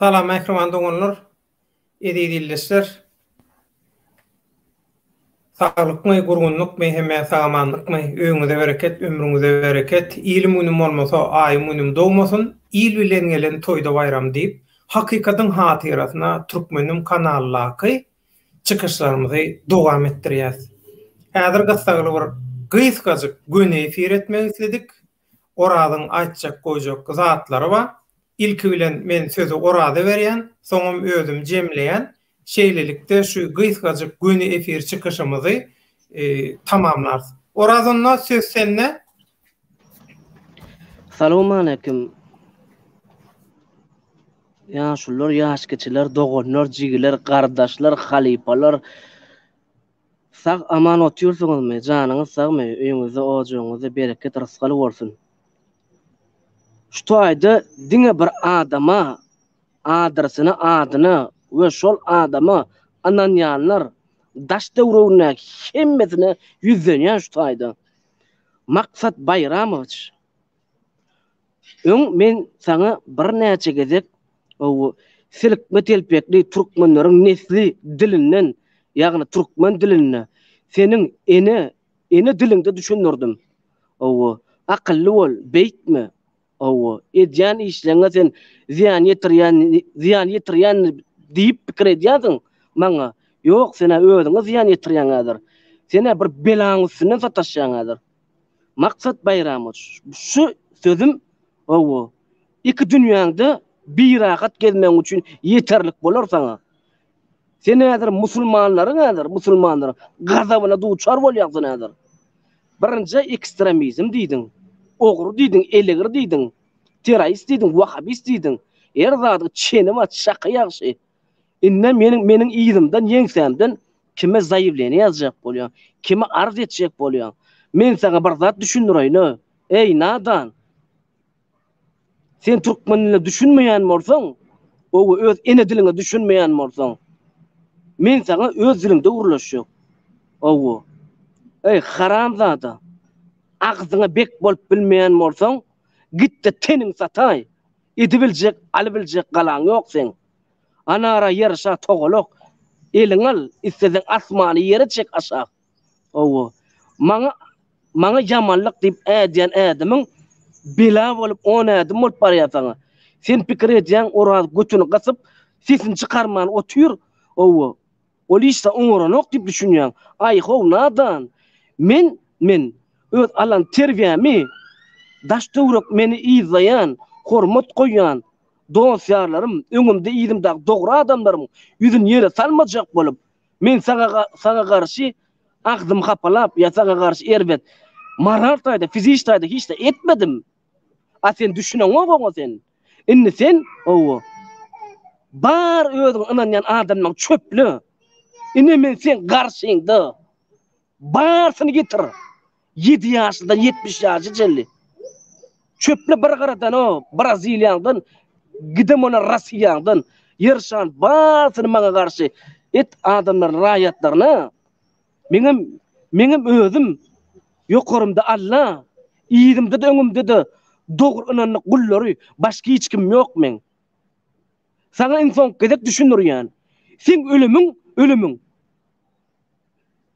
Salam mähriban doganlar, eziz ildeşler. Saglykmy, gurgunlykmy, hemme sagamanlykmy, öýüňize bereket, ömrüňize bereket. Ilim günüm bolmasa, aýym günüm dogmasyn, il bilen gelen toýda baýram diýip, hakykatyň hatyrasyna Türkmenim kanaldaky çykyşlarymyzy dowam etdirýäs. Häzir gyssagly bir gysgajyk göni efir etmek isledik. Orazyň aýtjak goýjak zatlary bar. Ilki bilen men sözi Oraza berýän, soňam özüm jemleýän. Şeýlelikde şu gysgajyk göni efir çykyşymyzy tamamlarys. Oraz onda söz sende. Salowmaleýkim. Ýaşulylar, ýaşkiçiler, doganlar, jigiler, gardaşlar, halypalar. Sag aman otyrsyňyzmy janyňyz sagmy öýüňizde ojagyňyzda bereket rysgal bolsun. Şu toýda diňe bir adama adresyny adyna we şol adama ynanýanlar daş döwrügindäki hemmesine ýüzlenýän şu toýda. Maksat Baýramowiç. Öň men saňa birnäçe gezek bu silikme telpekli türkmenleriň nesli dilinden, ýagny türkmen dilinde seniň ene ene diliňde düşündirdim. Hawa, akylly bol, beýtme. Hawa, edýän işleňe sen zyýan ýetirýän zyýan ýetirýän diýip pikir edýänsiň maňa. Ýok, sen-ä özüňe zyýan ýetirýäň häzir. Sen-ä bir belaň üstünden sataşýaň häzir. Maksat Baýramow şu sözüm hawa, iki dünýäňde birahat gezmegiň üçin ýeterlik bolar saňa. Sen häzir musulmanlaryň häzir musulmanlaryň gazabyna duçar bolýaň sen häzir. Birinjä ekstremizm diýdiň, ogry diýdiň, elegir diýdiň, terrorist diýdiň, wahabist diýdiň. Her zadyň çeni bar, çaky ýagşy. Indi meniň meniň yzymdan ýeňsämden kime zaýewleniýe ýazjak bolýaň, kime arz etjek bolýaň? Men saňa bir zat düşündireýin-ä, eý, nadan! Sen türkmen diline düşünmeýän bolsaň, ow-o, öz ene diliňe düşünmeýän bolsaň, men saňa öz diliňde gürleşjek. Ow-o. Eý, haramzada! Agzyňa bek bolup bilmeýän bolsaň, git-de teniňi sataý! Edibiljek, alybiljek galaň ýok seň. Anara ýaraşa togalak eliň al, isleseň asmany ýere çek aşak. Hawa, maňa maňa ýamanlyk diýip ädýän ädimiň bela bolup on ädim bolup barýar saňa. Sen pikir edýäň Oraz götüni gysyp, sesini çykarman otyr. Hawa, Ol işde oňaranok diýip düşünýäň. Aý-how, nadan! Men, men, öz alan terbiýämi, daş-töwerek meni yzlaýan, hormat goýýan dost-ýarlarym, öňümde-yzymdaky dogry adamlarym ýüzün ýere salmajak bolup, men saňa garşy agzym hapalap ýa saňa garşy erbet, moral taýda, fiziki taýda hiç zat etmedim. A sen düşüneňok oňa sen. Indi sen owo. Bar özüň ynanýan adamlaň çöple. Ine men sen garşyňda. Barsyny getir. Ýedi ýaşlydan ýetmiş ýaşa çenli. Çöple bir gyradan o Braziliýaňdan gidem olar Russiýaňdan ýyrşan barsyny maňa garşy et adamlaryny raýatlaryny Meňem meňem özüm ýokarymda Alla, yzymda-da öňümde-de dogry ynandyk gullary, başga hiç kim ýok meň. Saňa iň soňky gezek düşündirýän. Seň ölümiň, ölümiň.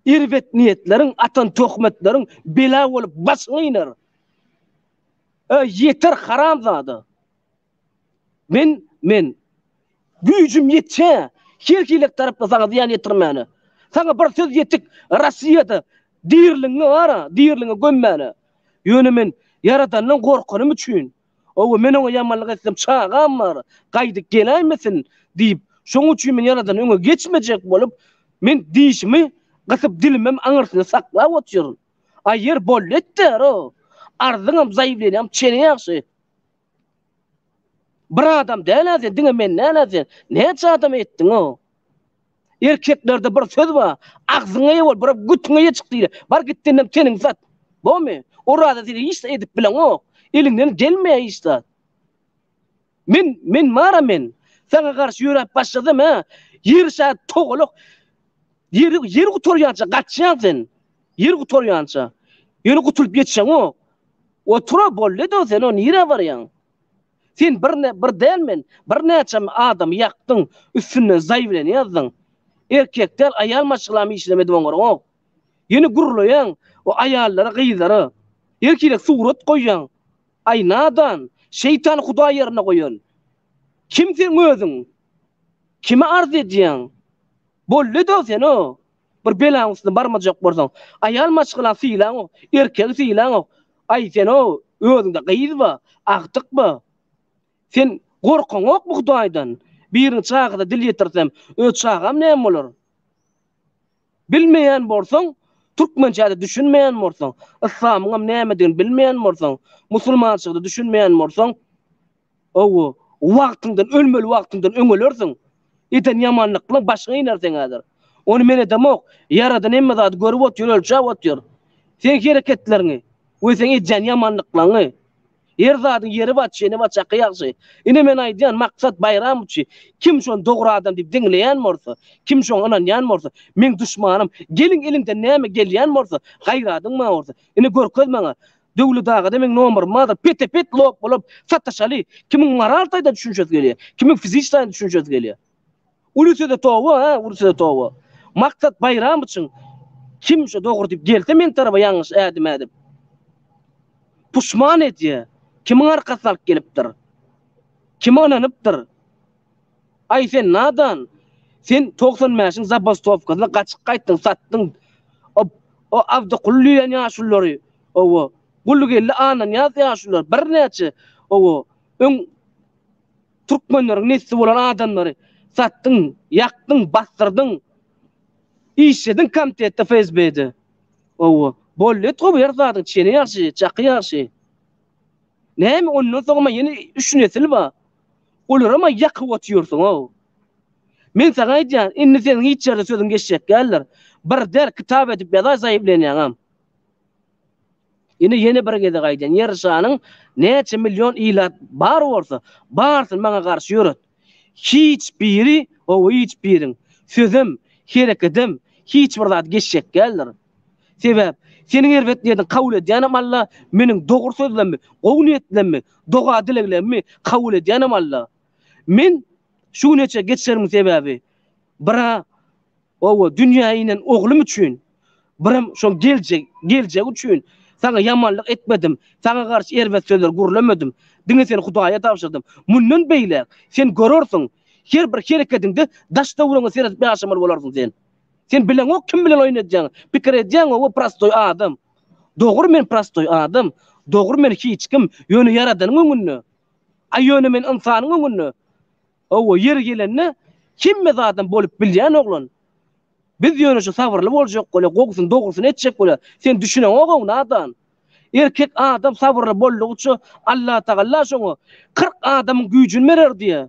Erbet niýetleriň, atan töhmetleriň bela bolup başyňy iner. Öý ýeter haramzada. Men, men, güýjüm ýetçä, her hili tarapda saňa zyýan ýetirmäne. Saňa bir söz ýetik, Rossiýada diriliňňi bar-a, diriliňňi gömmäne. Ýöne men Ýaradandan gorkanym üçin, oba, men oňa ýamanlyk etsem, çagam bar, gaýdyp geläýmesin diýip, şonuň üçin men Ýaradan öňe geçmejek bolup, men dişimi gysyp, dilimem aňyrsyna saklap otyryn. Aýýer bolýa etdär-o. Arzyňam, zaýewleniýaňam çene ýagşy. Bir adam däl-ä sen, diňe men däl-ä sen. Näçe adama etdiň-ow? Erkeklerde bir söz bar, Agzyňa eýe bol, biri götüňe eýe çyk diýilýär. Bar git denem teniňi sat. Bomy? Oraza sen hiç zat edip bileňok. Eliňden gelmeýär hiç zat. Men, men bar-a men. Saňa garşy ýöräp başlasam-ä, ýer şa togalak. Ýeri, ýeri gutarýança gaçýaň sen. Ýer gutarýança, ýöne gutulyp ýetişeňok. Otur-a, boldy-da, sen-ä nirä barýaň? Sen bir, bir däl men, birnäçe adamy ýakdyň, üstünden zaý bilen ýazdyň. Erkek däl, aýal maşgalam işlem edip oňarňok. Ýöne gürleýäň o aýallara, gyzlara. Erkilek surat goýýaň. Aý, nadan, şeýtany hudaý ýerine goýan. Kim seň özüň? Kimi arz edýäň? Boldy-da, sen-ä Bir belaň üstüne barmajak bolsaň, aýal maşgalan sylaňok, erkegi sylaňok. Aý, sen-ow, özüňde gyz bar, agtyk bar. Sen gorkaňokmy Hudaýdan? Biriň çagada dil ýetirsem, öz çagam näme bolar? Bilmeýän bolsaň, türkmençä-de düşünmeýän bolsaň, yslamyňam nämedigini bilmeýän bolsaň, musulmançylyga-da düşünmeýän bolsaň, Hawa, wagtyňdan, ölmeli wagtyňdan öň ölersiň. Eden ýamanlyklaryň başyňa iner seň häzir. Ony men edemok. Ýaradan hemme zady görüp otyr, ölçäp otyr. Seň hereketleriňi we seň edýän ýamanlyklaryňy. Her zadyň ýeri bar, çeni bar, çaky ýagşy. Ine men aýdýan, Maksat Baýramowiçi kim şony dogry adam diýip diňleýän bolsa, kim şoňa ynanýan bolsa, meň duşmanym. Gelin eliňden näme gelýän bolsa, gaýradyň maňa bolsa. Ine görkez maňa. Döwlet agada meň nomerym bardyr, pete pet lop bolup sataşaly, kimiň moral taýdan düşünşesi gelýär, kimiň fiziki taýdan düşünşesi gelýär. Uly söze toba hä uly söze toba. Maksat Baýram üçin kim şo dogry diýip gelse men tarapa ýalňyş ädim ädip puşman edýär, kimiň arkasyny alyp gelipdir, kime ynanypdyr. Aý sen nadan, sen togsan bäşiň zabastowkasyna gaçyk gaýtdyň, satdyň o Abdykuly diýen ýaşulylary, owo, Gulgeldi Annanyýaz ýaşulylar, birnäçe, owo, öň türkmenleriň nesli bolan adamlary satdyň, ýakdyň, basdyrdyň, işlediň komitetde, FSB-de, owo, bolýa-ýetgo bu ýer zadyň, çeni ýagşy, çaky ýagşy. Näme ondan soňam ýene üç nesil bar. Olaram-a ýakyp otyrsyň-ow. Men saňa aýdýan, indi seniň hiç ýerde sözüň geçjek däldir. Bir der kitap edip ýazaý zaýyplanýaňam. Ine ýene bir gezek aýdýan, Ýer şanyň näçe million ilat bar bolsa, barysyny maňa garşy ýöret. Hiç biri, hawa hiç biriň, sözem, herekedem, hiç bir zat geçjek däldir. Sebäp, seniň erbet niýetiňi kabul edýänem Alla, meniň dogry sözlerimi, gowy niýetlerimi, doga-dileglerimi kabul edýänem Alla. Men şu güne çenli geç geleniň sebäbi, bir-ä oba dünýä inen oglum üçin, birem şoň geljek, geljegi üçin saňa ýamanlyk etmedim, saňa garşy erbet sözler gürlemedim, diňe seni Hudaýa tabşyrdym. Mundan beýläk, sen görersiň, her bir hereketiňde daş-töweregiňe seredip ýaşamaly bolarsyň sen. Sen bileňok kim bilen oýun edýäňi. Pikir edýäňow we prostoý adam. Dogry men prostoý adam. Dogry men hiç kim. Ýöne ýaradanyň öňünde. A ýöne men ynsanyň öňünde. Howwa ýeri gelende hemme zadam bolup bilýän oglan. Biz ýöne şu sabyrly boljak bolýa gowusyny dogrusyny etjek bolýa. Sen düşüneňogow nadan. Erkek adam sabyrly boldugyça Allatagalla şoňa kyrk adamyň güýjini berer diýýä.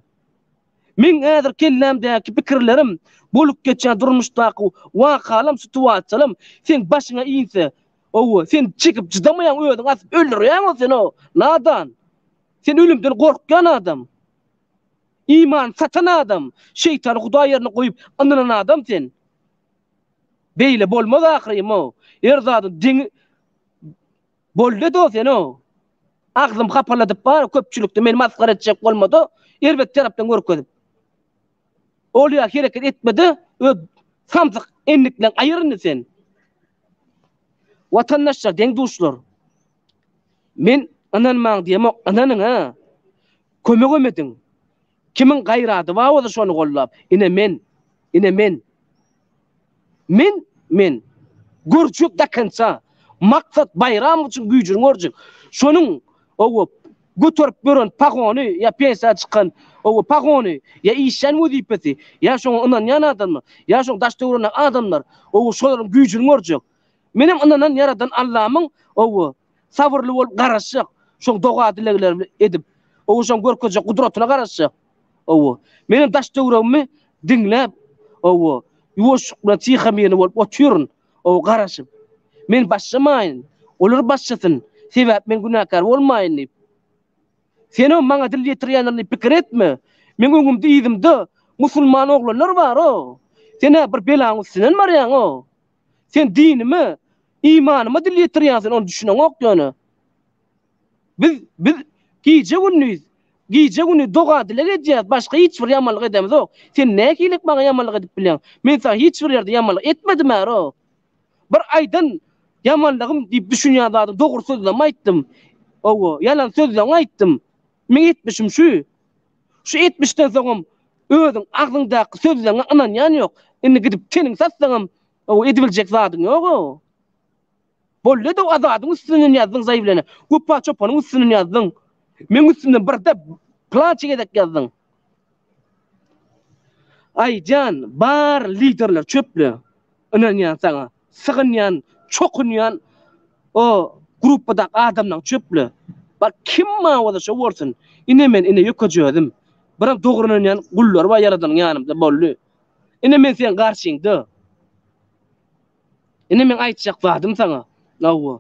Meň häzir kellämdäki pikirlerim, bolup geçýän durmuşdaky wakalam, situasiýalam seň başyňa inse, owo, sen çekip çydamaýaň, özüňi asyp öldürýäň-ow sen-ow, nadan! Sen ölümden gorkýan adam. Imany satan adam, şeýtany hudaý ýerine goýup ynynan adam sen. Beýle bolmaz ahyrym-ow. Her zadyň deňi Boldy dos ýene o. Agzym hapaladyp bar köpçülikde meni masgara etjek bolmada erbet tarapdan görkezip. Ol ýa hereket etmede öz samsyk endik bilen aýyr indi sen. Watandaşlar deň duşlar. Men ynanmaň diýemok ynanyň a. Kömegem ediň. Kimiň gaýrady bar bolsa şony gollap. Ine men. Ine men. Men, men. Görjek dakynça. Maksat Baýramow üçin güýjüni görjek. Şonuň, owo, göterip ýören pagony ýa pensiýa çykan, owo, pagony, ýa işleýän wezipesi, ýa şoňa ynanýan adamy, ýa şoň daş-töwerendaky adamlar, owo, şolaryň güýjüni görjek. Menem ynanan Ýaradan Allamyň, owo, sabyrly bolup garaşjak, şoň doga-dilegleri edip, owo, şoň görkezjek gudratyna garaşjak. Owo. Menem daş-töweregimi diňläp, owo, ýuwaşlyk bilen tyha-myrny bolup otyryn, owo, garaşyp. Men başlamaýyn, olar başlasyn, sebäp men günäkär bolmaýyn diýip. Sen-ow maňa dil ýetirýänlerini pikir etme. Meň öňümde-yzymda musulman oglanlar bar-ow. Sen-ä bir belaň üstünden barýaň-ow. Sen dinime, imanyma dil ýetirýänsiň, ony düşüneňok ýöne. Biz, biz gije-gündiz, gije-gündiz doga-dileg edýäris, başga hiç bir ýamanlyk edemizok. Sen nähililik maňa ýamanlyk edip bileň? Men saňa hiç bir ýerde ýamanlyk etmedim-ärok. Bir aýdan ýamanlygym diýip düşünýän zadym dogry sözlem aýtdym. Hawa, ýalan sözleň aýtdym. Meň etmişim şu. Şu etmişden soňam özüň agzyňdaky sözleňe ynanýan ýok. Indi gidip teniň satsaňam, hawa, edibiljek zadyň ýog-ow. Bolledow Azadyň üstünden ýazdyň zaý bilene. Guppa çopanyň üstünden ýazdyň. Meň üstümden birde plança gezek ýazdyň. Aý jan, bar liderler çöple. Ynanýan saňa. Sygynýan, çokunýan o gruppadak adamlaň çöple. Bar kim maňa bolsa şo bolsun. Ine men ine ýökeje özüm. Biram dogry ynanýan gullar bar ýaradanyň ýanymda bolly. Ine men seň garşyňda. Indi meň aýtjak zadym saňa, hawa,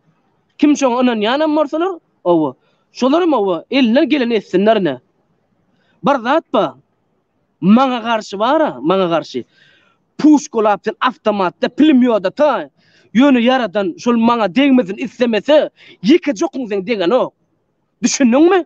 kim şoňa ynanýanam bolsalar, hawa, şolaram, hawa, elinden geleni etsinler ine. Bir zat bar, maňa garşy bar-a, maňa garşy, puşkalap sen awtomatda, pulemýoda-ta, ýöne Ýaradan şol maňa degmesin islemese, ýeke jokun seň degenok. Düşündiňmi?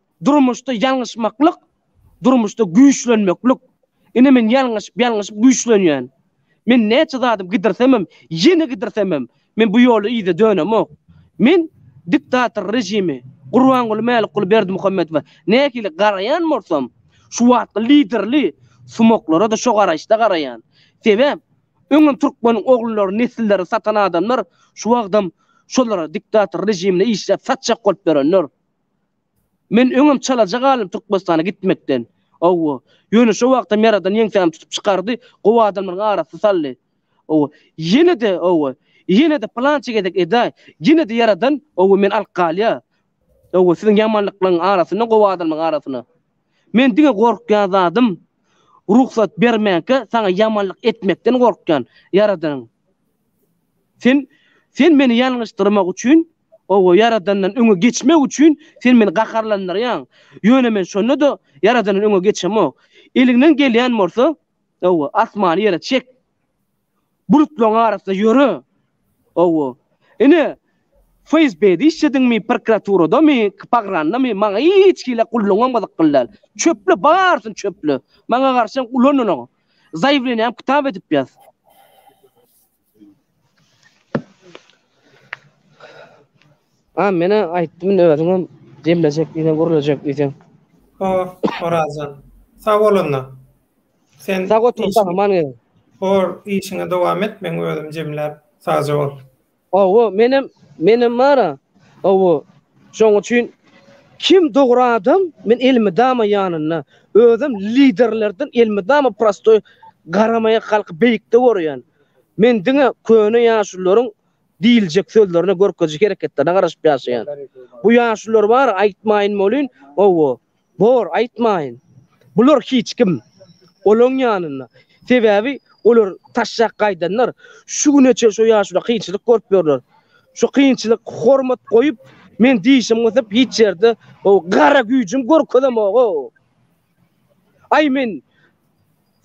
Durmuşda ýalňyşmaklyk, durmuşda güýçlenmeklik. Ine men ýalňyşyp, ýalňyşyp güýçlenýän. Men näçe zadym gidirsemem, ýene gidirsemem, men bu ýoly yza dönemok. Men diktator režimi, Gurbanguly Mälikguly Berdimuhamedowa nähili garaýan bolsam, şu wagtky liderli sumaklara-da şo garaýyşda garaýan. Sebäp, öňem türkmeniň ogullary, nesilleri satan adamlar şu wagtam şolara, diktator režimine işläp satjak bolup ýörenler. Men öňem çalaja galym Türkmenistana gitmekden. Hawa. Ýöne şo wagtam Ýaradan ýeňsämi tutup çykardy, gowy adamlaryň arasyna saldy. Hawa. Ýene-de, hawa, ýene-de pylança gezek edaý, ýene-de Ýaradan, hawa, meni alyp galýa. Hawa, siziň ýamanlyklaryň arasyna, gowy adamlaryň arasyna. Men diňe gorkýan zadym, rugsat bermänkä saňa ýamanlyk etmekden gorkýan, Ýaradanyň. Sen Sen meni ýalňyşdyrmak üçin, owo, Ýaradandan öňe geçmek üçin Sen meni gaharlandyrýaň. Ýöne men şonda-da Ýaradandan öňe geçemok. Eliňden gelýän bolsa, owo, asmany ýere çek. Bulutlaryň arasynda ýöre. Owo. Ine, FSB-de işlediňmi, prokuraturadamy, KPAGRAN-damy, maňa hiç hili gullugyňam gyzykly däl. Çöple, barysyny çöple. Maňa garşy ulandyň. Zaýewleniýam kitap edip ýaz. A menä aýtdym indi özüňem jemlejek diýseň gürlejek diýseň. Hor, Horazjan. Sag bol onda. Sen Sag otur, gahryman gelin. Hor, işiňe dowam et, men özüm jemläp, sagja bol. Hawa, menem, menem bar-a. Hawa, şoň üçin kim dogry adam, men elmydama ýanynda. Özem liderlerden elmydama prostoý garamaýak halky beýikde görýän. Men diňe köne ýaşulularyň diýiljek sözlerine, görkeziji hereketlerine garaşyp ýaşaýan. Bu ýaşulular bar-a, aýtmaýyn welin, hawa, Bor, aýtmaýyn. Bular hiç kim. Olaň ýanynda. Sebäbi olar taşşak gaýdanlar. Şu güne çen şo ýaşula kynçylyk görüp ýörler. Şo kynçylyk hormat goýup, men dişim gysyp hiç ýerde o gara güýjüm görkezemog-ow. Aý men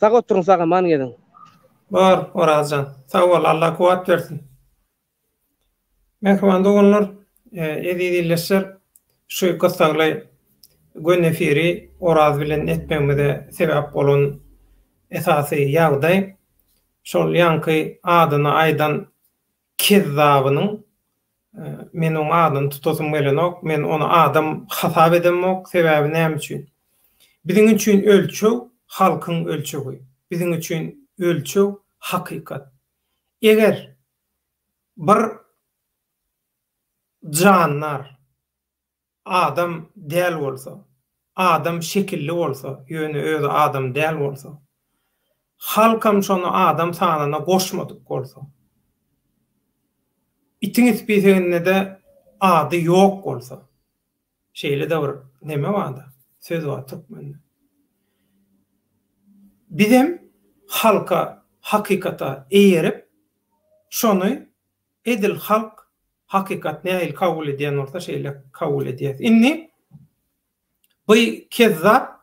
Sag oturyň sagaman geziň. Bor, Oraz jan. Sag bol, Alla kuwwat bersin. Mähriban doganlar, eziz ildeşler, şu gyssagly gönü efiri Oraz bilen etmegimize sebäp bolan esasy ýagdaý, şol ýaňky adyny aýdan kezzabynyň, men oň adyny tutasym gelenok, men ony adam hasap edemok, sebäbi näme üçin? Biziň üçin ölçeg halkyň ölçegi, biziň üçin ölçeg hakykat. Eger bir jandar adam däl bolsa, adam şekilli bolsa, ýöne özi adam däl bolsa, halkam şony adam sanawyna goşmadyk bolsa, itiň ispiseginde-de ady ýok bolsa. Şeýle-de bir neme bar-da, söz bar türkmende. Bizem halka, hakykata eýerip, şony edil halk hakykat nähili kabul edýän bolsa şeýle kabul edýäs. Indi bu kezzap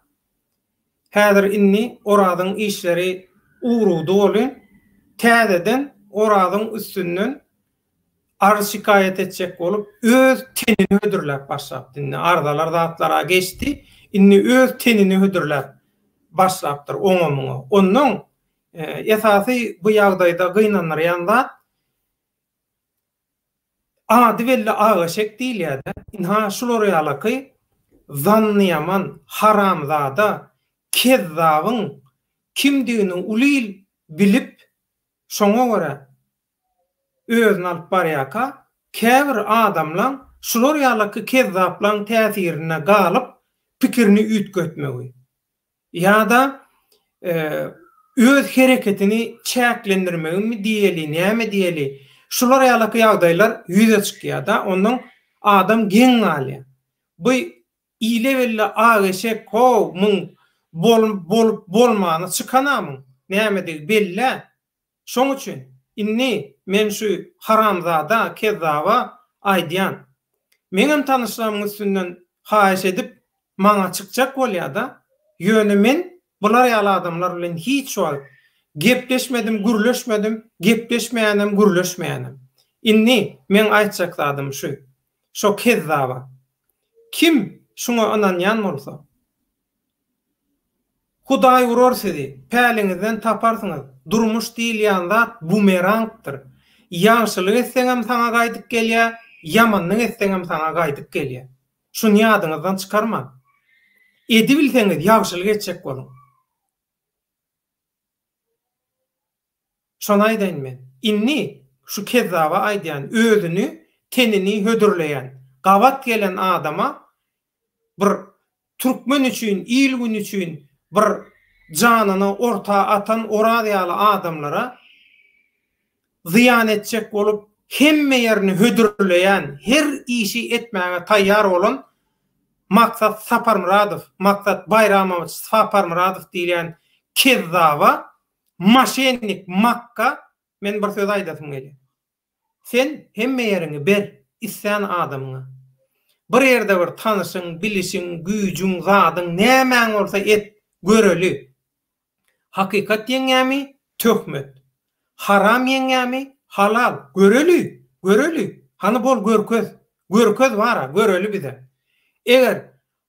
häzir indi Orazyň işleri ugrady bolin, täzeden Orazyň üstünden Arz şikaýat etjek bolup öz tenini hödürläp başlapdy indi arzalar zatlara geçdi indi öz tenini hödürläp başlapdyr oňa muňa onnoň esasy bu ýagdaýda gynandyrýan zat ady belli ak eşek diýilýädä ynha şular ýalaky zannyýaman haramzada kezzabyň kimdigini uly il bilip şoňa görä özüni alyp barýarka, käbir adamlaň şular ýalaky kezzaplaň täsirinde galyp pikirini üýtgetmegi ýa-da öz hereketini çäklendirmegimi diýeli näme diýeli şular ýalaky ýagdaýlar ýüze çykýarda ondan adam geň galýar. Bu ile belli ak eşek how muň bolup bolmany çykanamyň nämedigi bellä. Şoň üçin, indi men şu haramzada kezzaba aýdýan. Meňem tanyşlarymyň üstünden haýyş edip, maňa çykjak bolýa-da, ýöne men bular ýaly adamlar bilen hiç wagt gepleşmedim, gürleşmedim, gepleşmeýänem, gürleşmeýänem. Indi meň aýtjak zadym şu, şo kezzaba. Kim şuňa ynanýan bolsa, Hudaý urar sizi, päliňizden taparsyňyz. Durmuş diýilýän zat bumerangdyr. Ýagşylyk etseňem saňa gaýdyp gelýär, ýamanlyk etseňem saňa gaýdyp gelýär. Şuny ýadyňyzdan çykarmaň. Edibilseňiz ýagşylyk etjek boluň. Şony aýdaýyn men. Indi şu kezzaba aýdýan, özüni, tenini hödürleýän, gabat gelen adama bir türkmen üçin, il-gün üçin bir janyny orta atan Oraz ýaly adamlara zyýan etjek bolup, hemme ýerini hödürleýän, her işi etmäge taýýar bolan Maksat Saparmyradow, Maksat Baýramowiç Saparmyradow diýilýän kezzaba, maşennik, makga men bir söz aýdasym gelýär. Sen hemme ýeriňi ber islän adamyňa. Bir ýerde bir tanyşyň, bilişiň, güýjüň, zadyň, nämäň bolsa et, göreli. Hakykat ýeňýämi, töhmet. Haram ýeňýämi, halal, göreli, göreli. Hany bol görkez. Görkez bara, göreli bize. Eger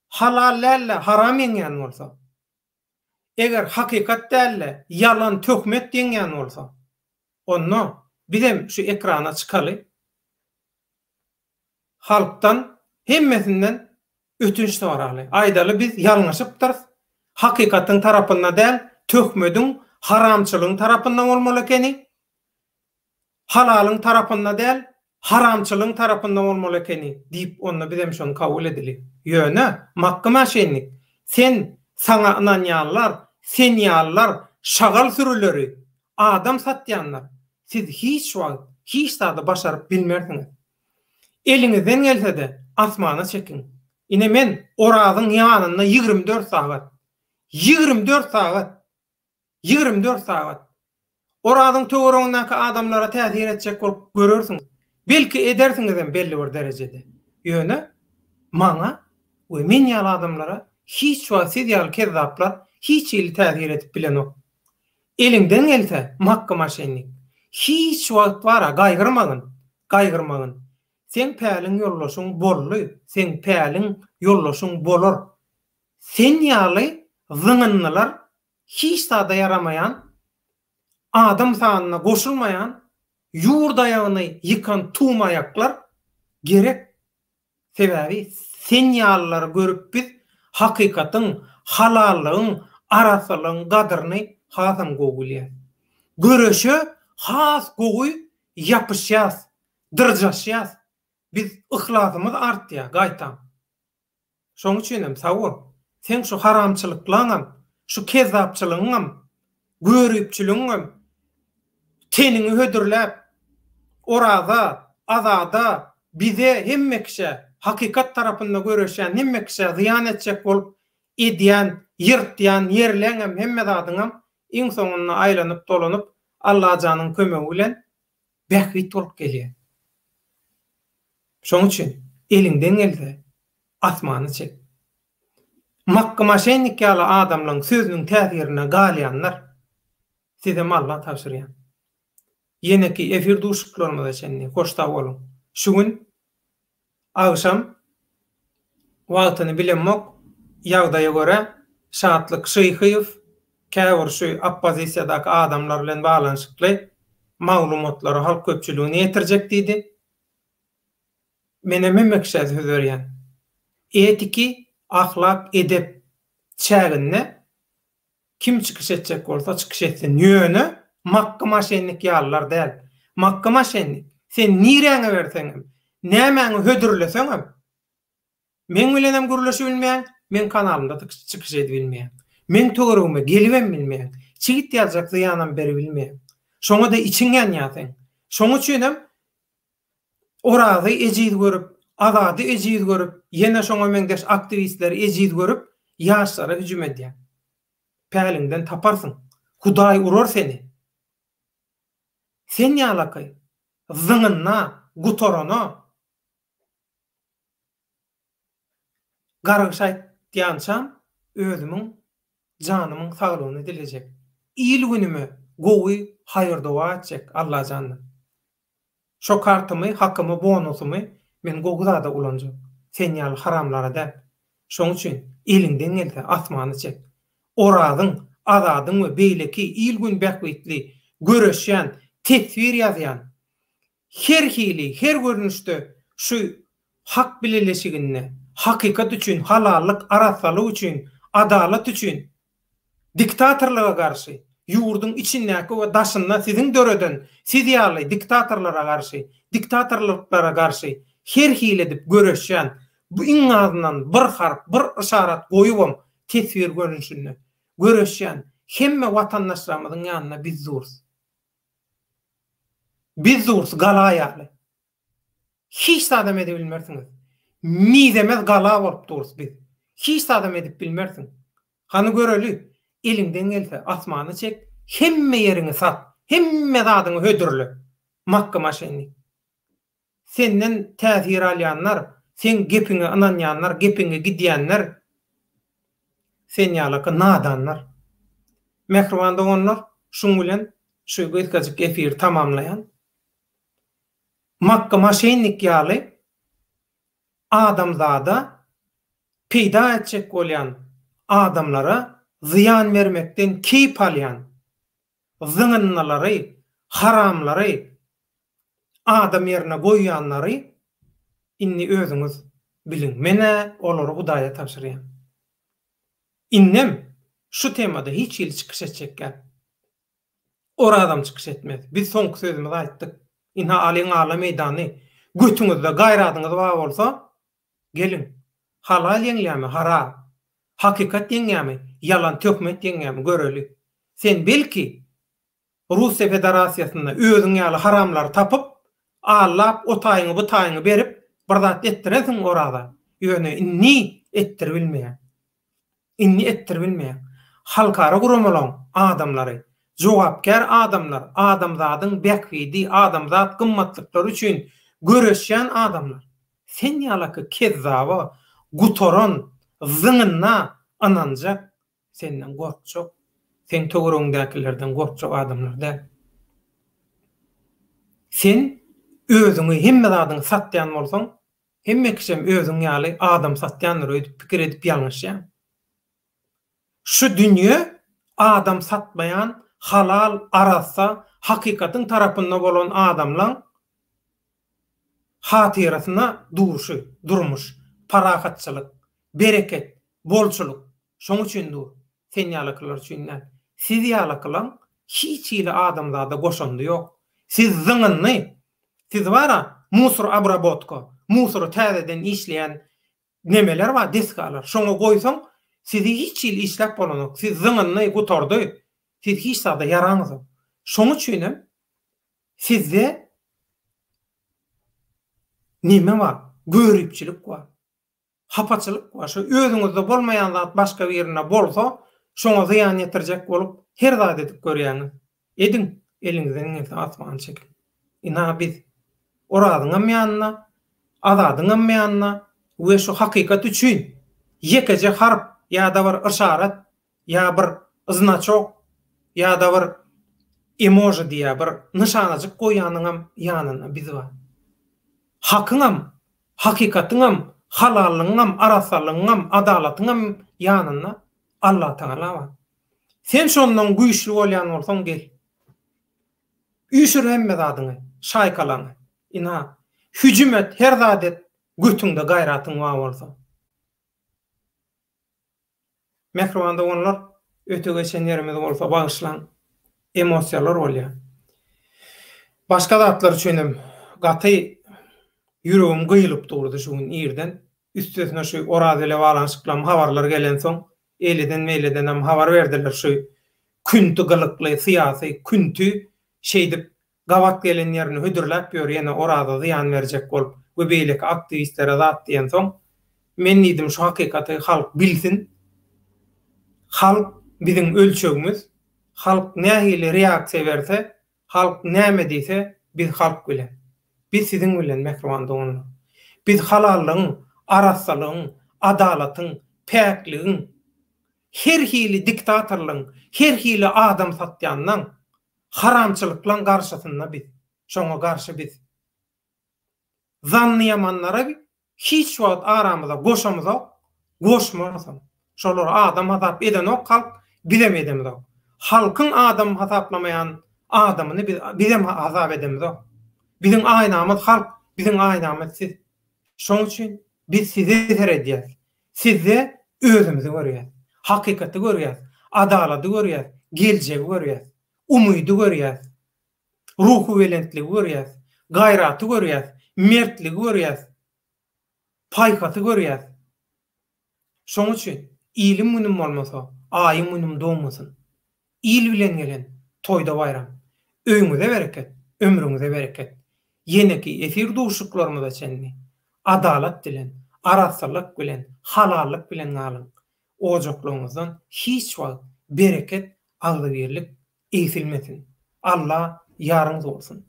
halal däl-de haram ýeňýän bolsa. Eger hakykat dälde ýalan töhmet deňýän bolsa onda bizem şu ekrana çykaly halkdan hemmesinden ötünç soraly aýdaly biz ýalňyşypdyrys hakykatyň tarapynda däl töhmediň haramçylygyň tarapynda bolmaly ekeni Halalyň tarapynda däl, haramçylyň tarapynda bolmaly ekeni, diýip, onda bizem şony kabul edeli. Ýöne, Makgy maşennik, sen, saňa ynanýanlar, sen ýalylar, şagal sürüleri, adam satýanlar, siz hiç wagt hiç zady başaryp bilmersiňiz. Eliňizden gelse-de, asmana çekiň. Ine, men Orazyň ýanynda ýigrimi dört sagat, ýigrimi dört sagat! Ýigrimi dört sagat. Orazyň töweregiňdäki adamlara täsir etjek bolup görersiňiz. Belki edersiňizem belli bir derejede. Ýöne, maňa we men ýaly adamlara hiç wagt siz ýaly kezzaplar hiç hili täsir edip bilenok. Eliňden gelse, Makky maşennik, hiç wagt bar-a gaýgyrmagyn, gaýgyrmagyn. Seň päliň ýoldaşyň boldy, seň päliň ýoldaşyň bolar. Sen ýaly zyňyndylar hiç zada ýaramaýan, adam sanyna goşulmaýan, ýurt aýagyny ýykan tum aýaklar gerek, sebäbi sen ýalylary görüp biz hakykatyň, halallygyň, arassalygyň gadyryny hasam gowy bilýäs. Göreşe has gowy ýapyşýas, dyrjaşýas, biz yhlasymyz artýar, gaýtam. Şoň üçinem sawo, seň şu haramçylyklaňam, şu kezzapçylygyňam, göripçiligiňem teniňi hödürläp, Oraza, Azada, bize, hemme kişä, hakykat tarapynda göreşýän hemme kişä zyýan etjek bolup edýän, ýyrtýan ýerleňem, hemme zadyňam iň soňunda aýlanyp-dolanyp Allajanyň kömegi bilen bähbit bolup gelýär. Şonuň üçin eliňden gelse, asmana çek. Makgy maşennik ýaly adamlaň sözüniň täsirinde galýanlar, sizem Alla tabşyrýan. Ýeneki efir duşuşyklarymyza çenli hoş sag boluň. Şu gün Agşam wagtyny bilemok, ýagdaýa görä, Şatlyk Şyhyýew käbir şu oppozisiýadaky adamlar bilen baglanyşykly maglumatlary halk köpçüligine ýetirjek diýdi. Menem hemekşä söz berýän. Etiki, ahlak, edep çäginde Kim çykyş etjek bolsa çykyş etsin ýöne Makky maşennik ýalylar däl. Makky maşennik sen niräňi berseňem, nämäňi hödürleseňem meň bilenem gürleşibilmeýäň, meň kanalymda çykyş edibilmeýäň. Meň töweregime gelibem bilmeýäň. Çigit ýazjak zyýanam beribilmeýäň. Şoňa-da içiň ýanýar seň. Şoň üçinem Orazy ejiz görüp, Azady ejiz görüp, ýene şoňa meňzeş aktiwistleri ejiz görüp, ýaşlara hüjüm edýäň. Päliňden taparsyň. Hudaý urar seni. Sen ýalakaý. Zyňynda, gutarana. Gargyş aýtýançam özümiň janymyň saglygyny dilejek. Il-günüme gowy haýyr-doga etjek Allajandan. Şo kartymy, hakymy, bonusymy men gowy zada ulanjak. Sen ýaly haramlara däl. Şoň üçin eliňden gelse asmany çek. Orazyň, Azadyň we beýleki il-gün bähbitli göreşýän, teswir ýazýan, Her hili, her görnüşde şu hak bileleşiginde hakykat üçin, halallyk, arassalyk üçin, adalat üçin, diktatorlyga garşy, ýurduň içindäki we daşynda siziň döreden, siz ýaly diktatorlara garşy, diktatorlyklara garşy her hili edip göreşýän, bu iň azyndan bir harp, bir yşarat goýubam, teswir görnüşinde, göreşýän hemme watandaşlarymyzyň ýanynda biz durus. Biz durus gala ýaly. Hiç zadam edibilmersiňiz. Mizemez gala bolup durus biz. Hiç zadam edip bilmersiň. Hany göreli, eliňden gelse, asmany çek, hemme ýeriňi sat, hemme zadyňy hödürle. Makgymyşynny. Senden täsir alýanlar, seň gepiňe ynanýanlar, gepiňe gidýänler sen ýalaka nadanlar. Mähriban doganlar, şuň bilen şu gysgajyk efiri tamamlaýan. Makga maşennik ýaly adamzada peýda etjek bolýan adamlara zyýan bermekden keýp alýan zyňyndylary, haramlary adam ýerine goýýanlary indi özüňiz biliň. Men-ä olary Hudaýa tabşyrýan. Indem şu temada hiç hili çykyş etjekgäp. Orazam çykyş etmez. Biz soňky sözümizi aýtdyk. Ynha, alyň ala meýdany. Götüňizde gaýradyňyz bar bolsa, Geliň, halal ýeňýärmi, haram? Hakykat ýeňýärmi, ýalan töhmet ýeňýärmi, göreli. Sen, belki, Russiýa Federasiýasynda özüň ýaly haramlary tapyp, allap, o taýyňy, bu taýyňy berip, bir zat etdirensiň oraza, ýöne indi etdiribilmeýär. Indi etdiribilmeýär. Halkara guramalaň adamlary, jogapkär adamlar, adamzadyň bähbidi, adamzat gymmatlyklary üçin göreşýän adamlar sen ýalaky kezzaba, gutaran, zyňynda ynanjak, senden gorkjak, seň töweregiňdäkilerden gorkjak adamlar däl. Sen özüňi hemme zadyňy satýan bolsaň, Hemme kişem özüň ýaly adam satýandyr öýdüp pikir edip ýalňyşýaň. Şu dünýe adam satmaýan halal, arassa, hakykatyň tarapynda bolan adamlaň hatyrasyna durşy, durmuş, parahatçylyk, bereket, bolçulyk şoň üçin dur, sen ýalykylar üçin däl. Siz ýalykylaň hiç hili adamzada goşandy ýok. Siz zyňyndy, Siz bar-a, musor abrabotka, musory täzeden işleýän nemeler bar, desgalar, şoňa goýsaň, sizi hiç hili işläp bolanok, siz zyňyndy, gutardy, siz hiç zada ýaraňyzok. Şoň üçinem sizde neme bar, göripçilik bar. Hapaçylyk we şu özüňizde bolmaýan zat başga birinde bolsa, şoňa zyýan ýetirjek bolup, her zat edip görýäňiz. Ediň, eliňizden gelse asmany çekiň. Ina biz, Orazyňam ýanynda, Azadyňam ýanynda we şu hakykat üçin, ýekeje harp ýa-da bir yşarat ýa bir znaçok ýa-da bir emoji diýýär bir nyşanajyk goýýanyňam ýanynda biz bar. Hakyňam, hakykatyňam, halallygyňam, arassalygyňam, adalatyňam ýanynda Allatagala bar. Sen şondan güýçli bolýan bolsaň gel. Üýşür hemme zadyňy, şaýkalaňy. Ina, hüjüm et, her zat et, götüňde gaýratyň bar bolsa. Mähriban doganlar öte geçen ýerimiz bolsa bagyşlaň emosiýalar bolýa. Başga zatlar üçinem gaty ýüregim gyýylyp durdy şu gün irden. Üstesine şu Oraz bile baglanyşyklam habarlar gelensoň eýleden meýledenem habar berdiler şu künti gylykly syýasy künti şeýdip Gabat gelen ýerini hödürläp ýör ýene Oraza zyýan berjek bolup we beýleki aktiwistlere zat diýensoň men diýdim şu hakykaty halk bilsin halk biziň ölçegimiz halk nähili reaksiýa berse halk näme diýse biz halk bilen biz siziň bilen mähriban doganlar biz halallygyň arassalygyň adalatyň päkligiň her hili diktatorlygyň her hili adam satýanlaň Haramçylyklaň garşysynda biz, şoňa garşy biz. Zannyýamanlary hiç wagt aramyza goşamyzok, goşmarysam. Şolary adam hasap edenok halk, bizem edemizok. Halkyň adam hasaplamaýan adamyny biz, bizem hasap edemizok. Biziň aýnamyz halk, biziň aýnamyz siz. Şoň üçin biz size seredýäs. Sizde özümizi görýäs. Hakykaty görýäs. Adalady görýäs. Geljegi görýäs. Umydy görýäs. Ruhubelentligi görýäs. Gaýraty görýäs. Mertligi görýäs. Paýhasy görýäs. Şoň üçin, Iliň günüm bolmasa, Aýyň günüm dogmasyn! Il bilen gelen, toýda baýram. Öýüňize bereket, ömrüňize bereket. Ýeneki efir duşuşyklarymyza çenli, adalat bilen, arassalyk bilen, halallyk bilen galyň. Ojaklaryňyzdan hiç wagt bereket, agzybirlik egsilmesin. Alla ýaryňyz bolsun!